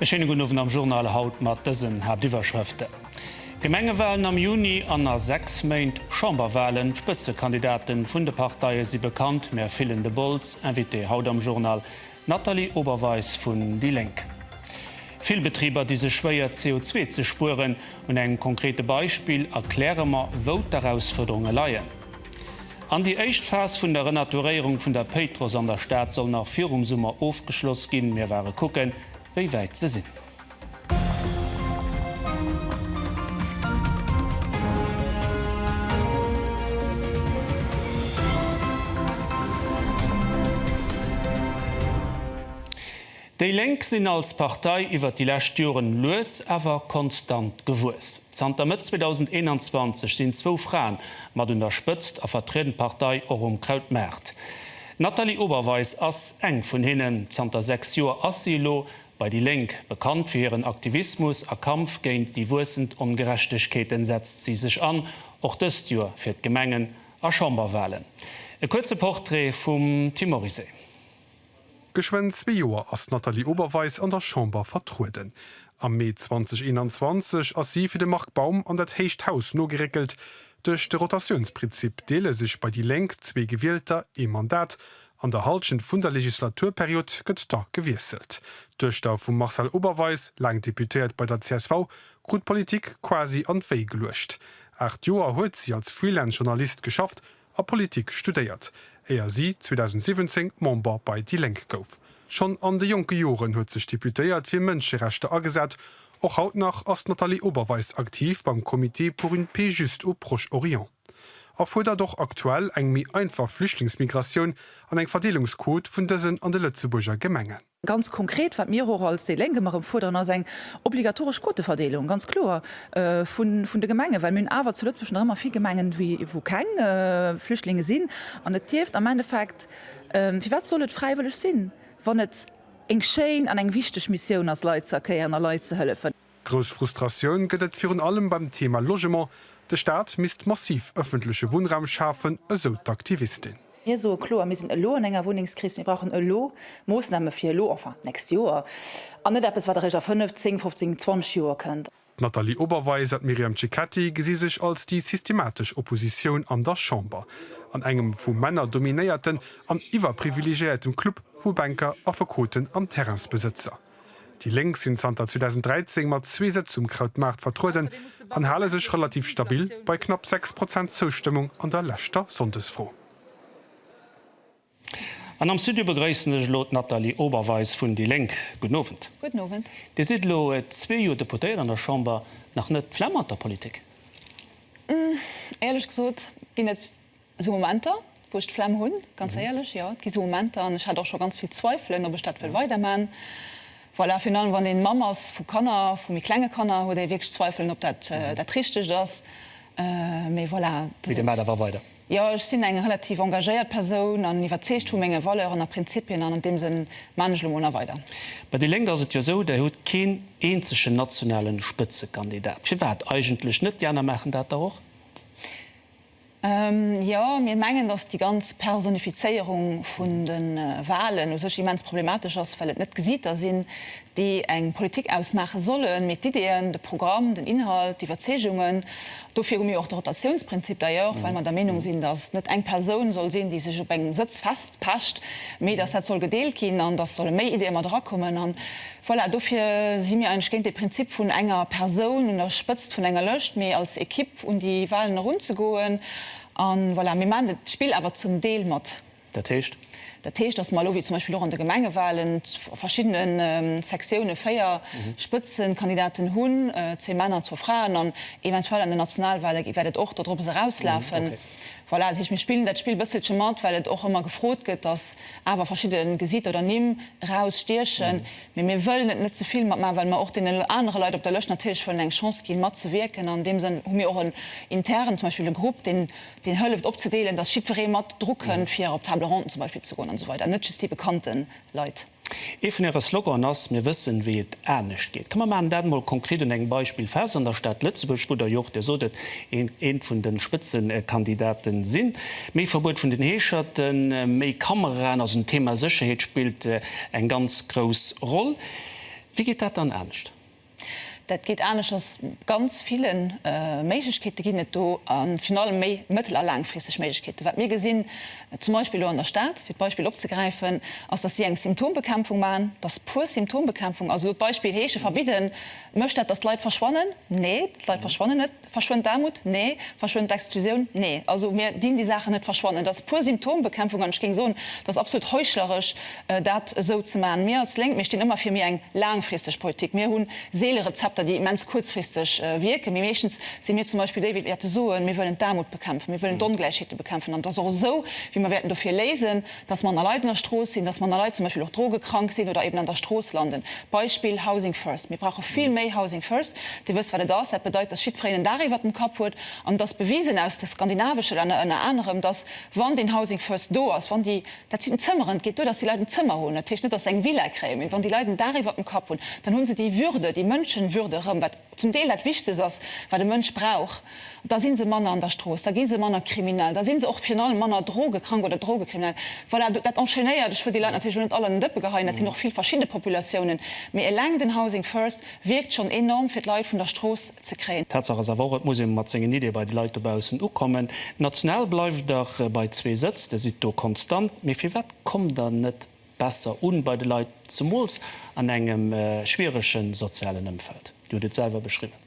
E schéine gudden Owend am Journal haut mat dësen Haaptiwwerschrëften, Gemengewalen am Juni an a 6 Méint Chamberwalen, d'Spëtzekandidaten vun de Parteie si bekannt, mir fillen de Bols, Invité haut am Journal, D'Nathalie Oberweis vun déi Lénk. Vill Betriber di sech schwéier CO2 ze spueren. Un engem konkrete Beispill erkläre mer wou d'Erausfuerderunge leien. An déi éischt Phas vun der Renaturéierung vun der Péitruss an der Stad soll nach virum Summer ofgeschloss ginn. Mir ware kucken wéi wäit se sinn. Déi Lénk sinn als Partei iwwer déi lescht Joren lues awer konstant gewuess. Zanter Mëtt 2021 sinn zwou Fraen mat un der Spëtzt a vertrieden d'Partei och um Krautmaart. D'Nathalie Oberweis ass eng vun hinnen. Zanter 6 Joer ass si elo Bei déi Lénk, bekannt fir hiren Aktivismus a Kampf géint déi wuessend Ongerechtegkeeten, setzt si sech an, och dëst Joer, fir d'Gemengen a Chamberwalen. E kuerze Portrait vum Tim Morizet. Geschwënn zwee Joer ass d'Nathalie Oberweis an der Chamber vertrueden. Am Mee 2021 ass si fir de Marc Baum an dat héicht Haus nogeréckelt. Duerch de Rotatiounsprinzip deele sech bei déi Lénk zwee Gewielter ee Mandat, An der Halschent vun der Legislaturperiod gëtt da gewiesselt. D'Duechter vum Marcel Oberweis, laang Deputéiert bei der csv, krut d'Politik quasi an d'Wéi geluecht. Aacht Joer huet si als Freelance Journalist geschafft a Politik studéiert, éier si 2017 Member bei déi Lénk gouf. Schonn an de jonke Joren huet sech d'Deputéiert fir Mënscherechter agesat, Och haut nach ass d'Nathalie Oberweis aktiv beim Comité pour une paix juste au Proche-Orient a fuerdert och aktuell eng méi einfach Flüchtlingsmigratioun an eng Verdeelungsquot vun dësen an de Lëtzebuerger Gemengen. Ganz konkret, wat mir och als déi Lénk ëmmer erëm fuerderen, ass eng obligatoresch Quoteverdeelung, ganz kloer, vun de Gemengen, well mir hunn awer zu Lëtzebuerg nach ëmmer vill Gemengen, wou keng Flüchtlinge sinn. An et dierft am Endeffekt, firwat soll et fräiwëlleg sinn, wann et, Eng schéin an eng wichteg Missioun ass Leit ze erkéieren a Leit ze hëllefen. Grouss Frustratioun gëtt et virun allem beim Thema Logement. De Staat misst massiv ëffentleche Wunnraum schafen, esou d'Aktivistin. Mir soe kloer, mir sinn elo an enger Wunnengskris, mir brauchen elo Moossname fir elo, enfin d'nächst Joer, an net eppes wat eréischt a fënnef, zéng, fofzéng, zwanzeg Joer kënnt. D'Nathalie Oberweis an d'Myriam Cecchetti gesi sech als déi systematesch Oppositioun an der Chamber. An engem vu Männer dominéierten an iwwerprivilegéiertem Club vu Banker, Affekoten an Terrainsbesëtzer. Déi Lénk sinn zanter 2013 mat zwee Sëtz um Krautmaart vertrueden an hale sech relativ stabil bei knapp 6 Prozent Zoustëmmung an der leschter Sonndesfro. An am Studio begréissen ech elo d'Nathalie Oberweis vun déi Lénk. Gudden Owend. Gudden Owend. Dir sidd elo zwee Joer Deputéiert an der Chamber, nach net d'Flemm mat der Politik? Éierlech gesot ginn et esou Momenter, wou ech d'Flemm hunn, ganz éierlech. Jo, et gi esou Momenter an ech hat och scho ganz vill Zweifelen, ob ech dat wëll weiderman. Voilà, virun allem wann ee Mamm ass vu Kanner, vu méi klenge Kanner, huet ee wierklech Zweifelen, ob dat dat Richtegt ass. Mee voilà. Mee Dir maacht awer weider? Jo, ech sinn eng relativ engagéiert Persoun an iwwerzeegt vu menge Valeuren a Prinzipien, an an deem Sënn man ech elo mol nach weider. Bei déi Lénk ass et jo esou, Där hutt keen eenzegen nationalen Spëtzekandidat. Firwat eigentlech net? Déi aner maachen dat dach och. Jo, mir mengen, datt déi ganz Personifizéierung vun de Walen u sech immens problematesch ass, well et net Gesiiter sinn, déi eng Politik ausmaache sollen, mee d'Ideeën, de Programm, den Inhalt, d'Iwwerzeegungen, dofir hu mir jo och de Rotatiounsprinzip d'ailleurs, well mer der Meenung sinn, datt et net eng Persoun soll sinn, déi sech op engem Sëtz festpecht, mee datt dat soll gedeelt ginn an datt solle méi Ideeë mat erakommen. An voilà, dofir si mir eigentlech géint dee Prinzip vun enger Persoun un der Spëtzt vun enger Lëscht, mee als Ekipp un déi Walen erunzegoen. An voilà, mir maachen d'Spill awer zum Deel mat. Dat heescht? Dat heescht, datt mer elo, wéi zum Beispill och an de Gemengewalen, a verschiddene Sektiounen véier Spëtzekandidaten hunn, zwee Männer an zwou Fraen, an eventuell an den Nationalwale wäert et och dodrops erauslafen. Voilà, dat heescht, mir spillen dat Spill e bësselche mat, well et och ëmmer gefrot gëtt, datt awer verschidde Gesitter oder Nimm erausstiechen. Mee mir wëllen et net ze vill mat maachen, well mer och deenen anere Leit op der Lëscht natierlech wëllen eng Chance ginn, matzewierken. An deem Sënn hu mir och en internen, zum Beispill e Grupp, deen deen hëlleft opzedeelen, dass jiddweree mat dru kënnt, fir op d'Table ronde zum Beispill ze goen an esou weider, net just déi bekannte Leit. Ee vun Äre Sloganen ass, Mir wëssen, wéi et anescht geet. Komm, mer maachen dat emol konkret un engem Beispill fest, an der Stad Lëtzebuerg, wou Der jo och, Dir sot et, ee vun de Spëtzekandidate sinn. Méi Verbuet vun den Heescherten, méi Kameraen, also den Thema Sécherheet spillt eng ganz grouss Roll. Wéi geet dat dann anescht? Dat geet aneschters, ganz ville Méiglechkeete ginn et do, a virun allem méi mëttel a laangfristeg Méiglechkeeten. Wat mir gesinn, zum Beispill elo an der Stad, fir d'Beispill opzegräifen, ass, datt si eng Symptombekämpfung maachen, datt pur Symptombekämpfung, also elo d'Beispill heesche verbidden, mécht dat, datt d'Leit verschwannen? Nee, d'Leit verschwannen net. Verschwënnt d'Aarmut? Nee. Verschwënnt d'Exklusioun? Nee. Also mir dinn déi Saachen net verschwannen. Et ass pur Symptombekämpfung an ech géing soen, et ass absolut heuchleresch, dat esou ze maachen. Mir als Lénk, mir stinn ëmmer fir méi eng laangfristeg Politik. Mir hu seele Rezepter, déi immens kuerzfristeg wierken, mee meeschtens si mir zum Beispill déi, wéi wäerte soen, mir wëllen d'Aarmut bekämpfen, mir wëllen d'Ongläichheete bekämpfen an et ass och esou, wéi mer wäerten dofir léisen. dass manner Leit an der Strooss sinn, dass manner Leit zum Beispill och drogekrank sinn oder eben an der Strooss landen. Beispill, Housing first. Mir brauche vill méi Housing first. Dir wësst, wat et ass. Dat bedeit, dass jiddfereen en Daach iwwert dem Kapp huet. An et ass bewisen aus de skandinavesche Länner ënner anerem, dass, wann deen Housing first do ass, wann déi, dat sinn d'Zëmmeren, et geet duer, dass déi Leit en Zëmmer hunn, dat heescht net, dass se eng Villa kréien, mee wann déi Leit en Daach iwwert dem Kapp hunn, dann hu se déi Würde, déi Mënschenwürde erëm, wat, zum Deel dat Wichtegst ass, wat e Mënsch brauch, da si se manner an der Strooss, da gi se manner kriminell, da si se och virun allem manner drogekrank oder drogekriminell. Voilà, dat enchaînéiert. Ech wëll déi Leit natierlech elo net all an den Dëppe geheien, dat sinn och vill verschidde Populatiounen, mee eleng den Housing First wierkt schonn enorm, fir d'Leit vun der Strooss ze kréien. Tatsaach ass awer och, et muss ee mat sengen Iddie bei de Leit dobaussen ukommen. D'National bleift dach bei zwee Sëtz, Dir sidd do konstant, mee firwat kommt Der net besser un bei de Leit, zemools an engem schwierege sozialen Ëmfeld. Dir hutt et selwer beschriwwen.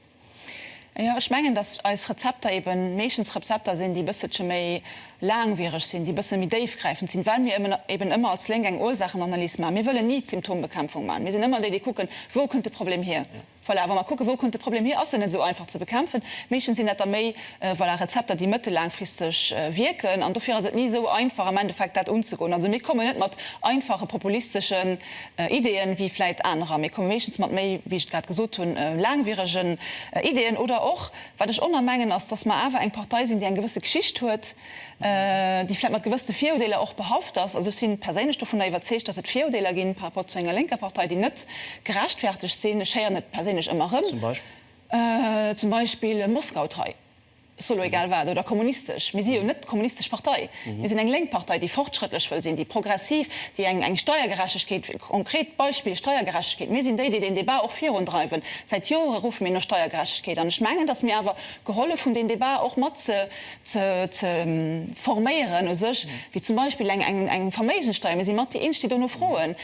Jo, ech mengen, datt eis Rezepter ebe meeschtens Rezepter sinn, déi e bësselche méi laangwiereg sinn, déi e bësse méi déifgräifend sinn, well mir eben ëmmer als Lénk eng Ursachenanalys maachen. Mir wëllen ni Symptombekämpfung maachen. Mir sinn ëmmer déi, déi kucken, Wou kënnt de Problem hier? Voilà, wa mer kucken, wou kënnt de Problem hier, ass en net esou einfach ze bekämpfen. Meeschtens sinn dat da méi, voilà, Rezepter, déi mëttellaangfristeg wierken. An dofir ass et ni esou einfach am Endeffekt dat unzegoen. Also mir kommen net mat einfache populisteschen Ideeën, wéi vläit anerer. Mir komme meeschtens mat méi, wéi ech et grad gesot hunn, laangwieregen Ideeën. Oder och, wat ech onermengen, ass, dass mer awer eng Partei sinn, déi eng gewësse Geschicht huet, déi vläit mat gewëssene Virudeeler och behaft ass, also ech si perséinlech dovunner iwwerzeegt, datt et Virudeeler ginn par rapport zu enger lénker Partei, déi net gerechtfertegt sinn. Ech héieren et perséinlech ëmmer erëm, zum Beispill Moskautrei, solo egal wat, oder kommunistesch. Mir si jo net d'kommunistesch Partei, mir sinn eng lénk Partei, déi fortschrëttlech wëll sinn, déi progressiv, déi eng Steiergerechtegkeet, konkret Beispill, Steiergerechtegkeet, mir sinn déi, déi deen Débat och virundreiwen. Säit Jore ruffe mir no Steiergerechtegkeet an ech mengen, datt mir awer gehollef hunn, deen Débat och mat ze ze forméieren u sech, wéi zum Beispill eng Verméigenssteuer, mir si mat déi Eenzeg, déi dono froen,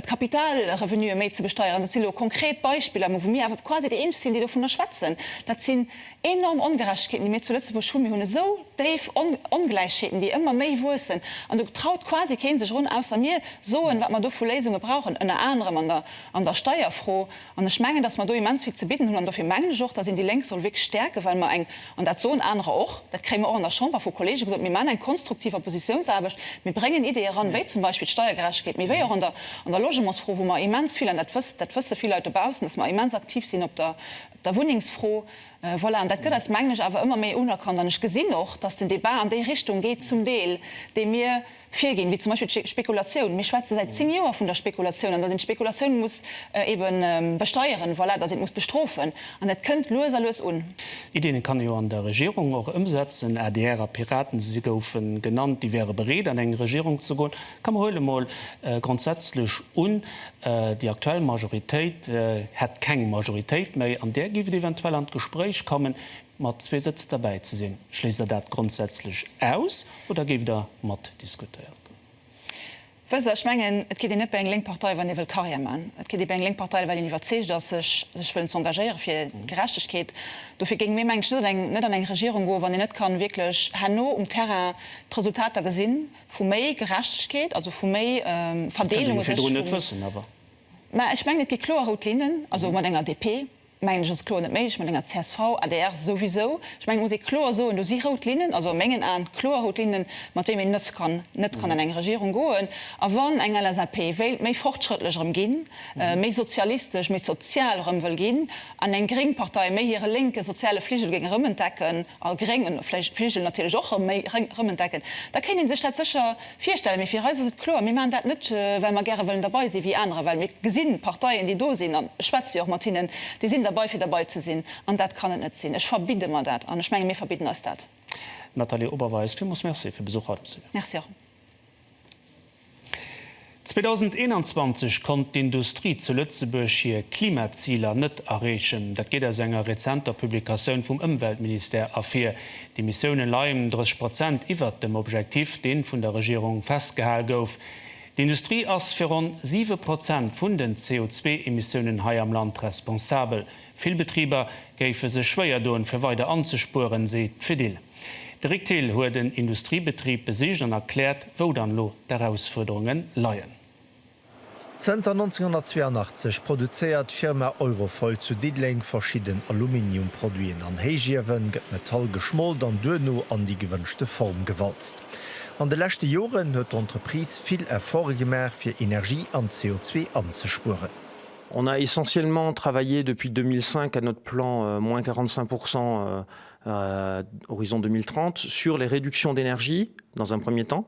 d'Kapitalrevenuë méi ze besteieren. Dat si lo konkret Beispiller, mä wou mir awer quasi déi Eenzeg sinn, déi dovunner schwätzen. Dat sinn enorm Ongerechtegkeeten, déi mir zu Lëtzebuerg hunn. Mir hunn esou déif Ongläichheeten, déi ëmmer méi wuessen, an do traut quasi keen sech erun, ausser mir soen, wat mer do vu Léisunge brauchen, ënner anerem an der Steierfro. An ech mengen, dass mer do immens vill ze bidden hunn. An dofir mengen ech och, dass een déi Lénk soll wierklech stäerken, well mer eng, an dat soen anerer och, dat kréie mer och an der Chamber vu Kollege gesot, mir maachen eng konstruktiv Oppositiounsaarbecht, mir bréngen Iddeeë eran, wéi zum Beispill d'Steiergerechtegkeet, mee wéi och an der Logementsfro, wou mer immens vill, an dat wësst, dat wësse vill Leit dobaussen, dass mer immens aktiv sinn op der, op der Wunnengsfro. Voilà, an dat gëtt eis, mengen ech, awer ëmmer méi unerkannt. An ech gesinn och, dass den Débat an déi Richtung geet zum Deel, dee mir, Virginn, wéi zum Beispill d'Spekulatioun. Mir schwätze säit zéng Joer vun der Spekulatioun an datt een d'Spekulatioun muss ebe besteieren, voilà, datt een d'muss bestrofen. An dat kënnt lues a lues un. Iddien kann ee jo an der Regierung och ëmsetzen. Adr a Piraten, si goufen genannt, déi wäre bereet an eng Regierung ze goen. Komm, huele emol grondsätzlech un, déi aktuell Majoritéit hätt keng Majoritéit méi, an där géif et eventuell an d'Gespréich kommen. Mat zwee Sëtz derbäi ze sinn. Schléisst Der dat grondsätzlech aus oder géift Der mat diskutéieren? Wësst Der, ech mengen, et kritt een net bei eng lénk Partei, wann ee wëll Karriär maachen. Et kritt ee bei eng lénk Partei, well een iwwerzeegt ass, sech sech wëllen ze engagéieren fir Gerechtegkeet. Dofir géinge mir, mengen ech, net an eng Regierung goen, wann een net kann wierklech herno um Terrain d'Resultater gesi vu méi Gerechtegkeet, also vu méi Verdeelung. Dat kënnt een jo virdrun net wëssen awer. Mä ech mengen, et gi kloer rout Linnen, also mat enger DP, mengen ech ass kloer net méiglech mat enger csv, adr souwisou. Ech mengen et muss ee kloer soen, do si rout Linnen, also a mengen Aen kloer rout Linnen, mat deem een net kann, net kann an eng Regierung goen. A wann eng LSAP wéilt méi fortschrëttlech erëm ginn, méi sozialistesch, méi sozial erëm wëll ginn, an eng gréng Partei méi hire lénke soziale Fligel géing erëmentdecken, a gréngen Fligel natierlech och erëm méi erëmentdecken, da kéint ee sech dat sécher Virstellen. Mee fir eis ass et kloer, Mir maachen dat net, well mer gäre wëllen derbei sinn, wéi anerer, well mir gesi Parteien, déi do sinn, an ech schwätze jo och mat hinnen, déi sinn derbei, fir derbei ze sinn. An dat kann et net sinn. Ech verbidde mer dat. An ech menge mir verbidden eis dat. Nathalie Oberweis, Villmools Merci fir Besuch haut am Studio. Merci erëm. 2021 konnt d'Industrie zu Lëtzebuerg hir Klimaziler net erreechen. Dat geet aus enger rezenter Publikatioun vum Ëmweltministère ervir. D'Emissioune leien ëm 30 Prozent iwwert dem Objektiv, dee vun der Regierung festgehal gouf. D'Industrie ass fir ronn 7 Prozent vun den CO2-Emissiounen hei am Land responsabel. Vill Betriber géife sech schwéier doen, fir weider anzespueren, seet d'Fedil. De Rick Thill huet en Industriebetrib besicht an erkläert, wou dann elo d'Erausfuerderunge leien. Zënter 1982 produzéiert d'Firma Eurofoil zu Diddeleng verschidden Aluminiumproduiten. An Héichiewe gëtt Metall geschmolt an duerno an déi gewënschte Form gewalzt. An de leschte Joren huet d'Entreprise vill Efforte gemaach, fir Energie an CO2 anzespueren. On a essentiellement travaillé depuis 2005 à notre plan moins 45 pour 100 horizon 2030 sur les réductions d'énergie dans un premier temps,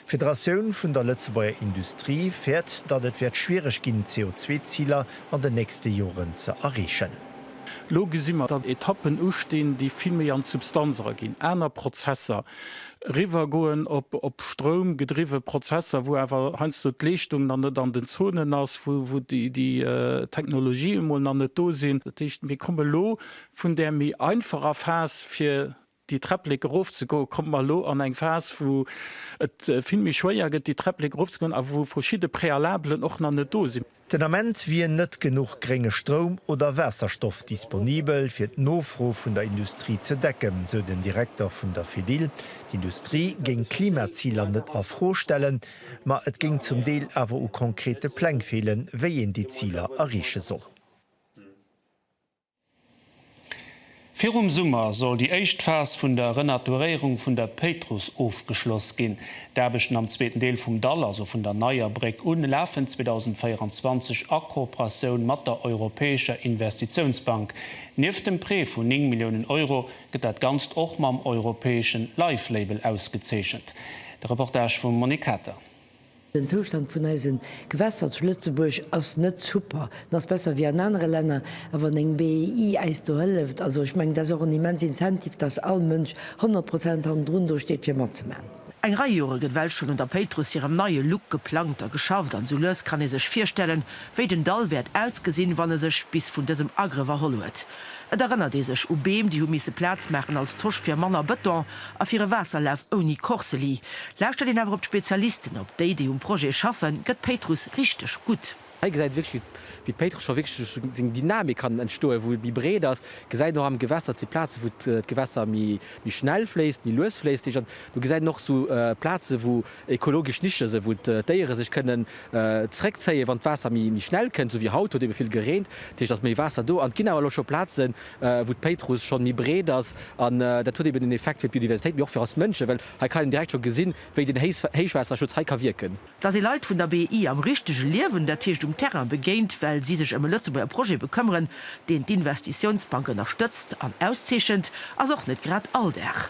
D'Federatioun vun der Lëtzebuerger Industrie fäert, datt et wäert schwiereg ginn, d'CO2-Ziler an den nächste Joren ze erreechen. Elo gesi mer, datt Etappen ustinn, déi vill méi an d'Substanz eraginn, aner Prozesser, eriwwer goen op Stroum gedriwwe Prozesser, wou awer heiansdo d'Leeschtung nach net an den Zonen ass, wou déi Technologien emol nach net do sinn. Dat heescht, mir komme lo vun där méi einfacher Phas, fir Déi Träpplek erof ze goen, kommt mer elo an eng Phas, wou et vill méi schwéier gëtt, déi Träpplek erof ze goen a wou verschidde Préalablen och nach net do sinn. Den Ament wier net genuch grénge Stroum oder Waasserstoff disponibel, fir d'Nofro vun der Industrie ze decken, esou den Direkter vun der Fedil. D'Industrie géing d'Klimaziler net a Fro stellen, ma et géing zum Deel awer u konkrete Pläng feelen, wéi een déi Ziler erreeche soll. Virum Summer soll déi éischt Phas vun der Renaturéierung vun der Péitruss ofgeschloss ginn. D'Aarbechten am zweeten Deel vum Dall, also vun der Neier Bréck un, lafen 2024 a Kooperatioun mat der Europäescher Investitiounsbank. Nieft dem Prêt vun 9 Milliounen Euro gëtt dat Ganzt och mam europäeschen Life-Label ausgezeechent. De Reportage vum Monique Kater. Den Zoustand vun eisen Gewässer zu Lëtzebuerg ass net super, en ass besser wéi an anere Länner, a wann eng BEI äis do hëlleft, also ech mengen dat ass och en immens Incentive, dass all Mënsch 100 Prozent hannendrun do steet fir matzemaachen. Eng Rei Jore gëtt well schonn un der Péitruss hirem neie Look geplangt a geschafft, an sou lues kann ee sech virstellen, wéi den Dall wäert ausgesinn, wann e sech bis vun dësem Agrëff erholl huet. Et erënnert ee sech u Beem, déi hu misse Plaz maachen als Tosch fir manner Bëton a fir e Waasserlaf ouni Korseli. Lauschtert een awer op d'Spezialisten, op déi, déi um Projet schaffen, gëtt Péitruss richteg gutt. Hei gesäit ee wierklech, wéi d'Péitruss scho wierklech duerch seng Dynamik kann entstoen, wou et méi breet ass. Gesäit een och am Gewässer, et si Plazen, wou d'Gewässer méi schnell fléisst, méi lues fléisst. Do gesäit een och esou Plazen, wou Ekologesch Nische se wou d'Déiere sech kënnen zréck zéien wann d'Waasser méi méi schnell kënnt, sou wéi haut huet ebe vill gereent, dat heescht et ass méi Waasser do an et ginn awer elo scho Plazen wou d'Péitruss schonn méi breet ass an dat huet eben en Effekt fir d'Biodiversitéit mee och fir eis Mënschen, well hei kann een direkt scho gesinn wéi den Héichwaasserschutz hei ka wierken. Dass ee Leit vun der BEI am richtege Liewen, dat heescht um Terrain begéint, well si sech ëm e Lëtzebuerger Projet bekëmmeren, deen d'Investitiounsbank ënnerstëtzt an auszeechent, ass och net grad Alldag.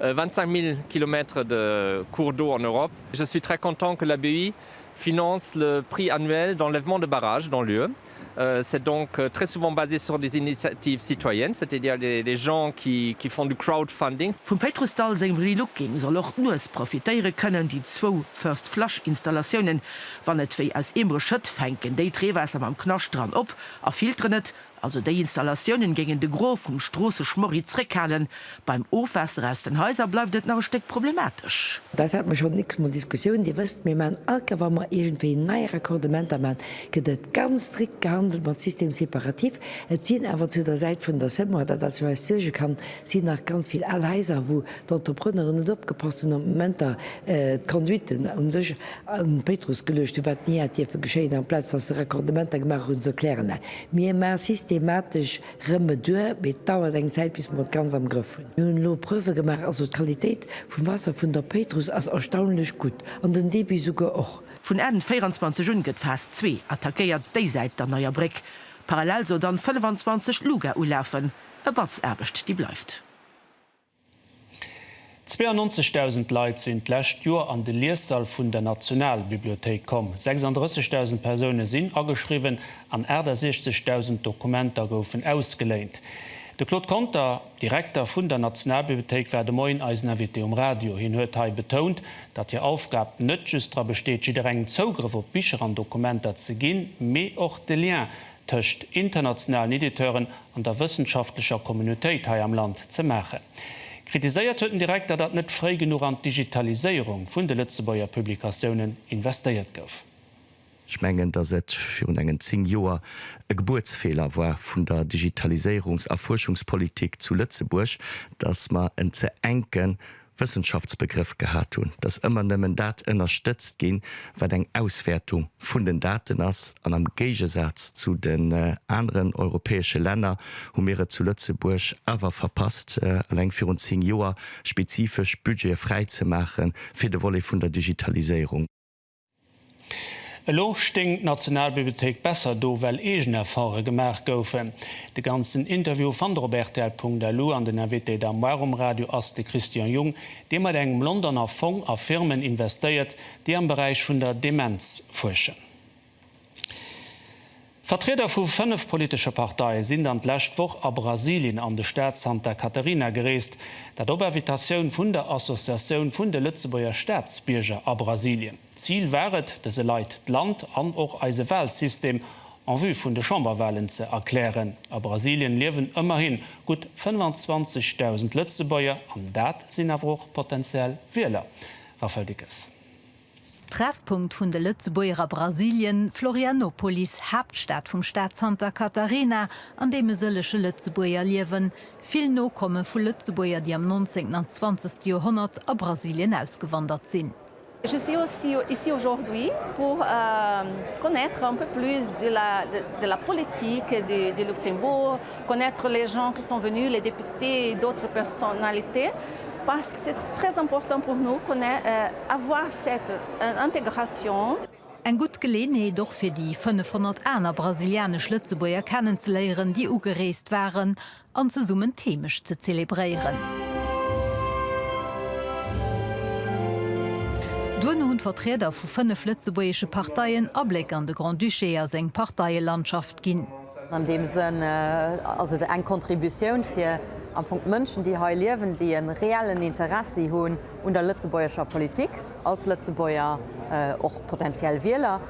25 mille kilomètres de cours d'eau en Europe. Je suis très content que la BEI finance le prix annuel d'enlèvement de barrages dans l'UE. C'est donc très souvent basé sur des initiatives citoyennes, c'est-à-dire des gens qui font du crowdfunding. Vum Péitrus Dall sengem Relooking soll och d'Nues profitéiere kënnen. Déi zwou First Flush Installatiounen, wann et wéi aus Eemere schëtt, fänken déit Reewaasser mam Knascht dran op a filteren et. Also déi Installatiounen géingen de Gros vum Stroosseschmorri zréckhalen. Beim Ofwaasser aus den Haiser bleift et nach e Stéck problematesch. Dat hat mer schonn x-mol Diskussioun. Dir wësst, mir maan all Kéier wa mer iergendwéi nei Raccordementer maan, gëtt et ganz strikt gehandelt mat Système séparatif. Et sinn awer zu der Säit vun der Semois, dat dat fir eis suerge kann, sinn nach ganz vill al Haiser wou d'Entrepreneuren net opgepasst hunn op d'Momenter, d'Conduiten u sech an d'Péitruss geluecht hunn, wat ni hätt dierfe geschéien, amplaz datt se Raccordementer gemaach hunn, se erklären, Mir maache systematesch Rëmme duer, mee et dauert eng Zäit bis mer et ganz am Grëff hunn. Mir hunn elo Preuve gemaach, also d'Qualitéit vum Waasser vun der Péitruss ass erstaunlech gutt, an den Débit souguer och. Vun Enn 24 un gëtt Phas zwee attackéiert, déi Säit der Neier Bréck. Parallel soll dann 25 Luga ulafen. E Batz Aarbecht déi bleift. 92.000 Leit sinn d'lescht Joer an de Liessall vun der Nationalbibliothéik komm. 36.000 Persoune sinn ageschriwwen an 68.000 Dokumenter goufen ausgeléint. De Claude Conter, Direkter vun der Nationalbibliothéik, war de Moien eisen Invité um Radio. Hien huet hei betount, datt hir Aufgab net just dra besteet, jidderengem Zougrëff op Bicher an Dokumenter ze ginn, mee och de Lien tëscht internationalen Editeuren an der wëssenschaftlecher Communautéit hei am Land ze maachen. Kritiséiert huet den Direkter, datt net fréi genuch an d'Digitaliséierung vun de Lëtzebuerger Publikatiounen investéiert gouf. Ech mengen, datt et virun engen zéng Joer e Gebuertsfeeler war vun der Digitaliséierungs a Fuerschungspolitik zu Lëtzebuerg, datt mer en ze enke Wëssenschaftsbegrëff gehat hunn, dass ëmmer nëmmen dat ënnerstëtzt ginn, wat eng Auswäertung vun den Daten ass. An am Géigesaz zu den aneren europäesche Länner hu mir et zu Lëtzebuerg awer verpasst, eleng virun zéng Joer spezifesch Budgete fräizemaache fir de Volet vun der Digitaliséierung. Elo stéing d'Nationalbibliothéik besser do, well eegen Efforte gemaach goufen. De ganzen Interview fannt der op rtl.lu an den Invité d'Armoire um Radio ass de Christian Jung, dee mat engem Londoner Fong a Firmen investéiert, déi am Beräich vun der Demenz fuerschen. Vertrieder vu fënnef politesche Parteie sinn dann d'lescht Woch a Brasilien an de Staat Santa Catarina gereest, dat op Invitatioun vun der Associatioun vun de Lëtzebuerger Staatsbierger a Brasilien. Zil war et, dëse Leit d'Land an och eise Walsystem en vue vun de Chamberwalen ze erklären. A Brasilien liewen ëmmerhi gutt 25.000 Lëtzebuerger, an dat sinn awer och potenziell Wieler. Raphaël Dickes. Treffpunkt vun de Lëtzebuerger a Brasilien, Florianopolis, Haaptstad vum Staat Santa Catarina, an deem e sëllege Lëtzebuerger liewen. Vill Nokomme vu Lëtzebuerger, déi am 19. an 20. Joerhonnert a Brasilien ausgewandert sinn. Je suis ici aujourd'hui pour connaître un peu plus de la politique du Luxembourg, connaître les gens qui sont venus, les députés et d'autres personnalités. Parce que c'est très important pour nous qu'on ait avoir cette intégration. Eng gutt Geleeënheet och fir déi 500 aner brasilianesch-Lëtzebuerger kennenzeléieren, déi ugereest waren, an zesummen d'Heemecht ze zelebréieren. Duerno hunn d'Vertrieder vu 5 lëtzebuergesche Parteien Abléck an de Grand-Duché a seng Parteielandschaft ginn. An deem Sënn ass et eng Contributioun fir am Fong d'Mënschen, déi hei liewen, déi e reellen Interessi hunn un der lëtzebuergescher Politik, als Lëtzebuerger, och potentiell Wieler,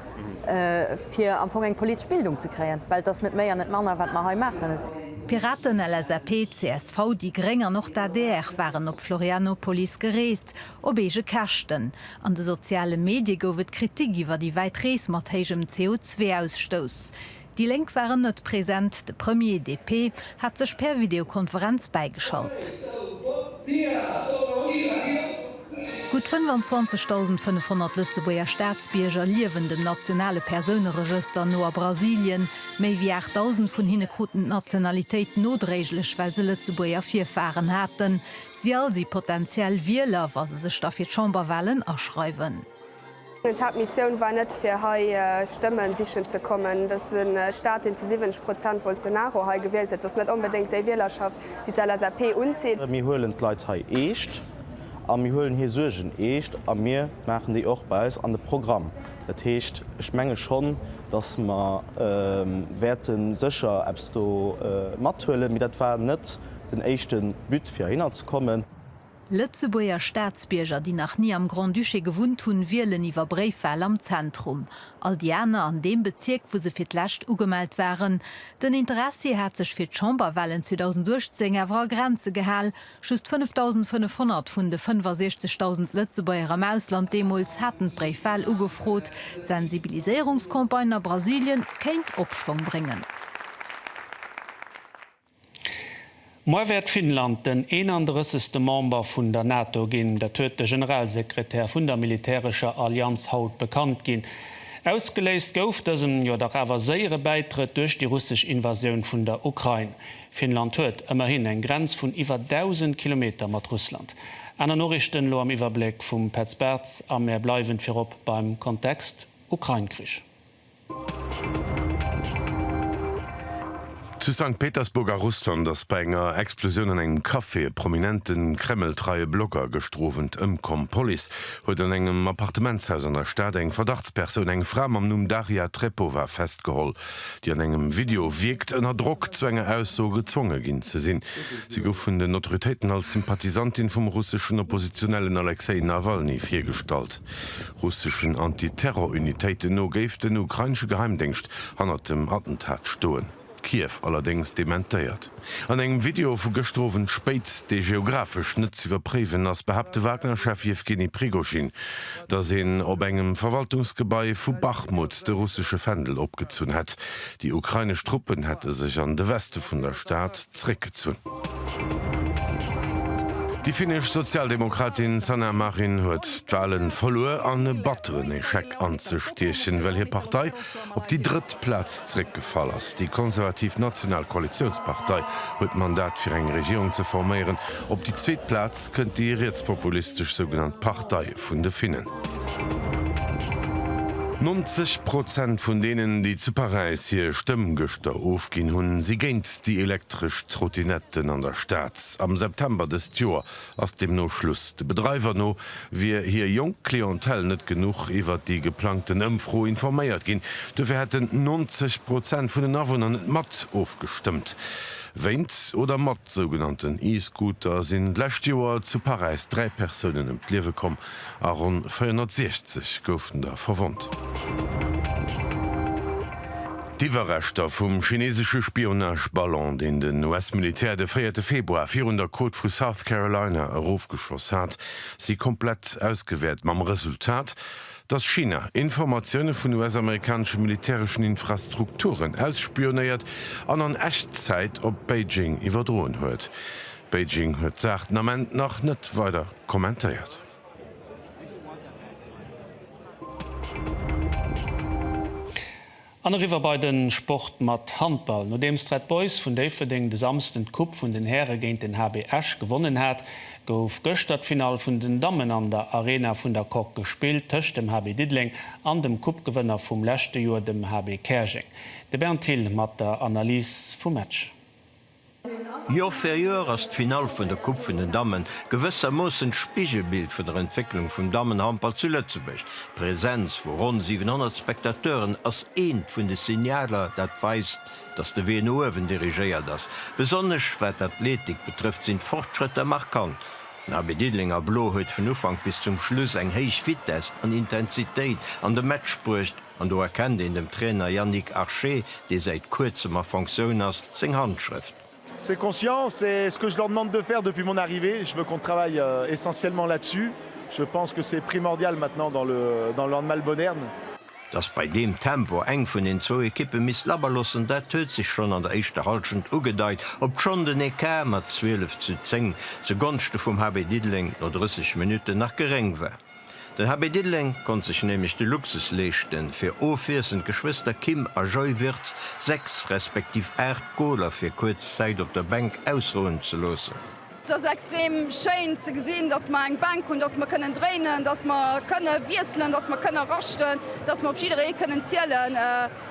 fir am Fong eng politesch Bildung ze kréien. Well et ass net méi an net manner, wat mer hei maachen. D'Piraten, LSAP, csv, déi Gréng an och d'ADR waren op Florianopolis gereest, op eege Käschten. An de soziale Medie gouf et Kritik iwwer déi wäit Rees mat héijem CO2-Ausstouss. Déi Lénk waren net present, de Premier, DP, hat sech per Videokonferenz bäigeschalt. Gutt 25.500 Lëtzebuerger Staatsbierger liewen dem nationale Persouneregëster no a Brasilien. Méi wéi 8.000 vun hinne kruten d'Nationalitéit nodréiglech, well se Lëtzebuerger Virfaren haten. Si all si potentiell Wieler, wa se sech da fir d'Chamberwalen aschreiwen. D'Haaptmissioun war net fir hei Stëmmen sichen ze kommen. Dat ass e Staat deen zu 70 Prozent Bolsonaro hei gewielt huet. Dat ass net onbedéngt déi Wielerschaft déi d'LSAP unzitt. Mir huelen d'Leit hei eescht a mir huelen hir Suergen eescht a mir maachen déi och bei eis an de Programm. Dat heescht, ech menge schonn, datt mer wäerte sécher eppes do mathuelen. Mee dat war net den éischte But fir heihinner ze kommen. Lëtzebuerger Staatsbierger, déi nach ni am Grand-Duché gewunnt hunn, wielen iwwer Bréifwal am Zentrum. All déi aner an deem Bezierk, wou se fir d'lescht ugemellt waren. Den Interessi hat sech fir d'Chamberwalen 2018 awer a Grenze gehal, Just 5.500 vun de 65.000 Lëtzebuerger am Ausland deemools haten d'Bréifwal ugefrot. D'Sensibiliséierungscampagne a Brasilien kéint Opschwong bréngen. Moar wäert Finnland den 31. Member vun der NATO ginn. Dat huet de Generalsekretär vun der militärescher Allianz haut bekannt ginn. Ausgeléist gouf dësen, jo dach awer séiere Bäitrëtt duerch déi russesch Invasioun vun der Ukrain. Finnland huet ëmmerhin eng Grenz vun iwwer 1.000 Kilometer mat Russland. Aner Noriichten elo am Iwwerbléck vum Petz Bartz a mär bleiwen virop beim Kontext Ukrain-Krich. Zu Sankt Petersburg a Russland ass bei enger Explosioun an engem Café e prominente Kreml-treie Blogger gestrowent ëmkomm. D'Police huet an engem Appartementshaus an der Stad eng Verdachtspersoun, eng Fra mam Numm Daria Trepova, festgeholl, déi an engem Video wierkt, ënner Drock zu enger Ausso gezwonge ginn ze sinn. Si gouf vun den Autoritéiten als Sympathisantin vum russeschen Oppositionellen Alexej Nawalny virgestallt. Russeschen Anti-Terror-Unitéiten no géif den ukrainesche Geheimdéngscht hannert dem Attentat stoen. Kiew allerdéngs dementéiert. An engem Video vu gëschter Owend spéit, dee geografesch net ze iwwerpréiwen ass, behaapt de Wagner-Chef Jewgeni Prigozhin, datt een op engem Verwaltungsgebai vu Bachmut de russesche Fändel opgezunn hätt. Déi ukrainesch Truppen hätte sech an de Weste vun der Stad, zréckgezunn. Déi finnesch Sozialdemokratin Sanna Marin huet d'Wale verluer an e batteren Echec anzestiechen, well hir Partei op déi drëtt Plaz zréckgefall ass. Déi konservativ National Koalitiounspartei huet d'Mandat fir eng Regierung ze forméieren. Op déi zweet Plaz kënnt déi rietspopulistesch sougenannt Partei vun de Finnen. 90 Prozent vun deenen, déi zu Paräis hir Stëmm gëschter ofginn hunn, si géint Déi elektresch Trottinetten an der Stad. Am September dëst Joer ass deemno Schluss. De Bedreiwer no wier hir jonk Clientèle net genuch iwwert déi geplangten Ëmfro informéiert ginn. Dofir hätten 90 Prozent vun den Awunner net mat ofgestëmmt. Wéint oder mat sougenannten E-Scooter sinn d'lescht Joer zu Paräis dräi Persounen ëm d'Liewe komm. a ronn 460 goufen der verwonnt. D'Iwwerreschter vum chineesesche Spionage-Ballon, deen den US-Militär de véierte Februar virun der Côte vu South Carolina erofgeschoss hat, si komplett ausgewäert, mam Resultat, datt China Informatioune vun US-amerikanesche militäreschen Infrastrukturen ausspionéiert an an Echtzäit op Beijing iwwerdroen huet. Beijing huet d'Saach den Ament nach net weider kommentéiert. An eriwwer bei de Sport mat Handball. Nodeems d'Red Boys vun Déifferdeng de Samsden d'Coupe vun den Häre géint den HB Esch gewonnen hat, gouf gëschter d'Finall vun den Dammen an der Arena vun der Coque gespillt, tëscht dem HB Diddeleng an dem Coupegewënner vum leschte Joer, dem HB Käerjeng. De Bernd Thill mat der Analys vum Match. Joer fir Joer ass d'Finall vun der Coupe vun den Dammen gewëssermoossen d'Spigelbild vun der Entwécklung vum Dammenhandball zu Lëtzebuerg. D'Präsenz vu ronn 700 Spectateuren ass eent vun de Signaler, dat weist, dass de Wee no uewen dirigéiert ass. Besonnesch wat d'Athletik betrëfft, sinn d'Fortschrëtter markant. HB Diddeleng a Blo huet vun Ufank bis zum Schluss eng héich Vitess an Intensitéit an de Match bruecht. An do erkennt een dem Trainer Yannick Arché, dee säit kuerzem a Fonctioun ass, seng Handschrëft. C'est conscient, c'est ce que je leur demande de faire depuis mon arrivée, je veux qu'on travaille essentiellement là-dessus, je pense que c'est primordial maintenant dans le dans le handball moderne. Dass bei deem Tempo eng vun den zwou Ekippe misst labberloossen, dat huet sech schonn an der éischter Hallschent ugedeit, obschonn den Ecart mat 12 zu 10 zu Gonschte vum HB Diddeleng no 30 Minutten nach geréng war. Den HB Diddeleng konnt sech nämlech de Luxus leeschten, fir ofwiesselnd d'Geschwëster Kim a Joy Wirtz 6 respektiv 8 Goler fir kuerz Zäit op der Bänk ausrouen ze loossen. Et ass extrem schéin ze gesinn, dass mer eng Bänk hunn, dass mer kënnen dréinen, dass mer kënne wiesselen, dass mer kënne raschten, dass mer op jidderee kënnen zielen.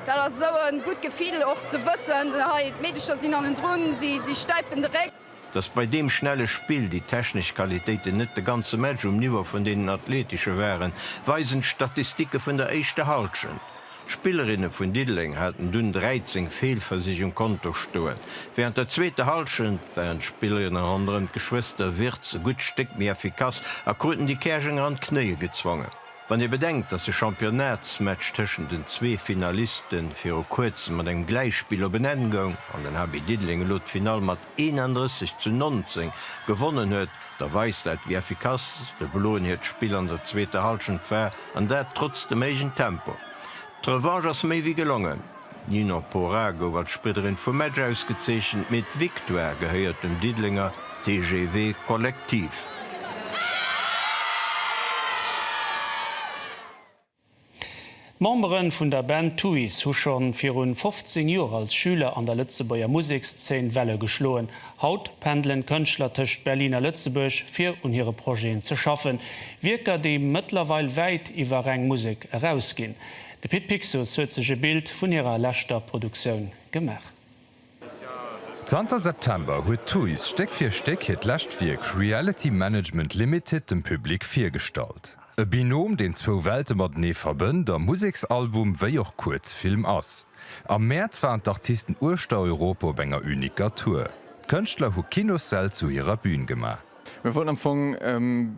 Dat ass esou e gutt Gefill och ze wëssen, hei d'Meedecher sinn hannendrun, si stäipen de Réck. Dass bei deem schnelle Spill déi technesch Qualitéiten net de ganze Match um Niveau vun deenen athletesche waren, weisen d'Statistike vun der éischter Hallschent. D'Spillerinne vun Diddeleng haten dunn 13 Feelversich um Konto stoen. Wärend der zweeter Hallschent waren d'Spillerinne ronderëm d'Geschwëster Wirtz e gutt Stéck méi effikass a kruten déi Käerjenger an d'Knéie gezwongen. Wann ee bedenkt, datt de Championnatsmatch tëschent den zwee Finaliste viru kuerzem mat engem Gläichspill op en Enn goung an den HB Diddeleng elo d'Finall mat 31 zu 19 gewonnen huet, da weist dat, wéi effikass de Bloen hiert Spill an der zweeter Hallschent war, an dat trotz dem héijen Tempo. D'Revanche ass méi wéi gelongen. Nino Pora gouf als Spridderin vum Match ausgezeechent, mee d'Victoire gehéiert dem Diddelenger TGV Collectif. D'Memberen vun der Band Tuys hu schonn virun 15 Joer als Schüler an der Lëtzebuerger Musekszeen Welle geschloen. Haut pendelen d'Kënschtler tëscht Berlin a Lëtzebuerg fir un hire Projeten ze schaffen, Wierker déi mëttlerweil wäit iwwer reng Musek erausginn. De Pit Pixus huet sech e Bild vun hirer leschter Produktioun gemaach. Zanter September huet Tuys Stéck fir Stéck hiert lescht Wierk Reality Management Limited dem Public virgestallt. E Binom, deen zwou Welte matenee verbënnt a Museksalbum wéi och Kuerzfilm ass. Am Mäerz waren d'Artisten uechter Europa op enger uniker Tour. D'Kënschtler hu Kinossäll zu hirer Bün gemaach. Mir wollten am Fong,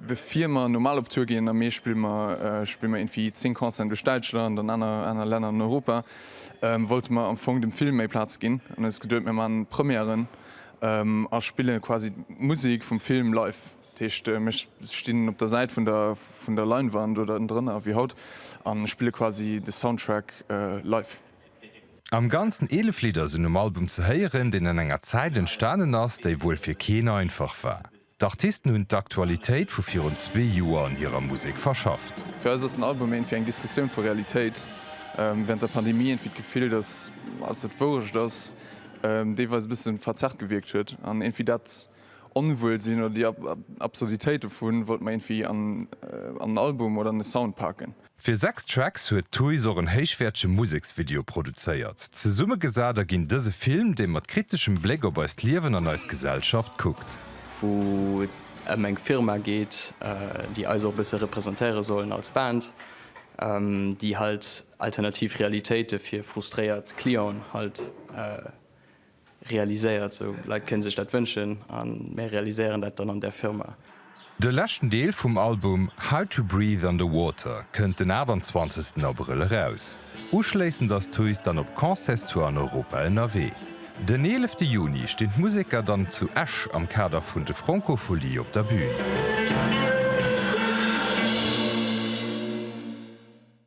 bevir mer normal op Tour ginn, a Mee spille mer spille mer irgendwie 10 Concerten duerch Däitschland an aner aner Länner an Europa, wollte mer am Fong dem Film méi Plaz ginn. An huet eis geduet, mir maachen Premièren a spille quasi d'Musek vum Film live. Dat heescht, mir stinn op der Säit vun der vun der Leinwand oder ënnendrënner, wéi haut, a spille quasi de Soundtrack live. Am Ganzen 11 Lidder sinn um Album ze héieren, deen an enger Zäit entstanen ass, déi wuel fir keen einfach war. D'Artisten hunn d'Aktualitéit vu virun zwee Joer an hirer Musek verschafft. Fir eis ass den Album eent wéi eng Diskussioun vu Realitéit während der Pandemie, eent wéi d'Gefill, datt alles wat Wourecht ass, deelweis e bësse verzerrt gewierkt huet, an eent wéi dat Onwuelsinn oder déi Absurditéit dovun wollt mer eent wéi an en Album oder an e Sound paken. Fir sechs Tracks huet d'Thuis och en héichwäertege Museksvideo produzéiert. Zesummegesat erginn dëse Film, dee mat kriteschem Bléck op eist Liewen an eis Gesellschaft kuckt. wou et ëm eng Firma geet, déi eis och e bësse representéiere sollen als Band, déi halt alternativ Realitéite fir frustréiert Clienten halt Realiséiert, sou Leit kënne sech dat wënschen a mär realiséieren dat dann an der Firma. De leschten Deel vum Album How to Breathe Underwater kënnt den 28 Abrëll eraus. Uschléissend ass d'Thuis dann op Concertstour an Europa ënnerwee. Den 11 Juni stinn d'Museker dann zu Esch am Kader vun de Francofolies op der Bün.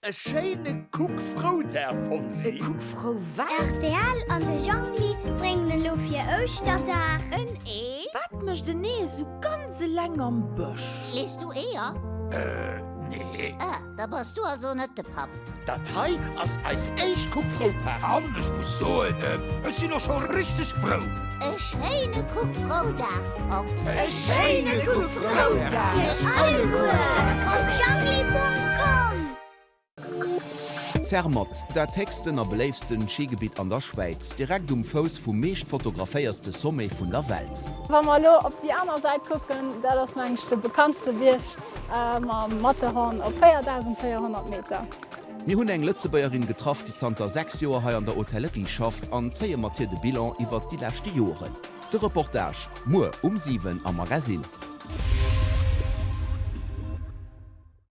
E schéine Kuck frou Dag Fonsi. E Kuck frou wat? Rtl an de Jongli bréngen elo fir Ouschterdag. En Ee? Wat mécht en Ee esou ganz eleng am Bësch? Lees du Eeër? Äh, nee. Ah, da bass du also net de Papp. Dat hei ass eis éischt Kuck frou Party. An ech muss soen, ech sinn och scho richteg frou. E schéine Kuck Froudag, Fox! E schéine Kuck Froudag iech alleguer op Jangli.com! Zermatt, dat héchsten a beléiftsten Schigebitt an der Schwäiz, direkt um Fouss vum meescht fotograféierste Sommet vun der Welt. Wa mer elo op déi aner Säit kucken, dat ass mengen ech de bekanntste Bierg mam Matterhorn op 4400 Meter. Mir hunn eng Lëtzebuergerin getraff, déi zanter 6 Joer hei an der Hotellerie schafft an zéie mat hir de Bilan iwwert déi leschte Joeren. De Reportage muer um 7 am Magasinn.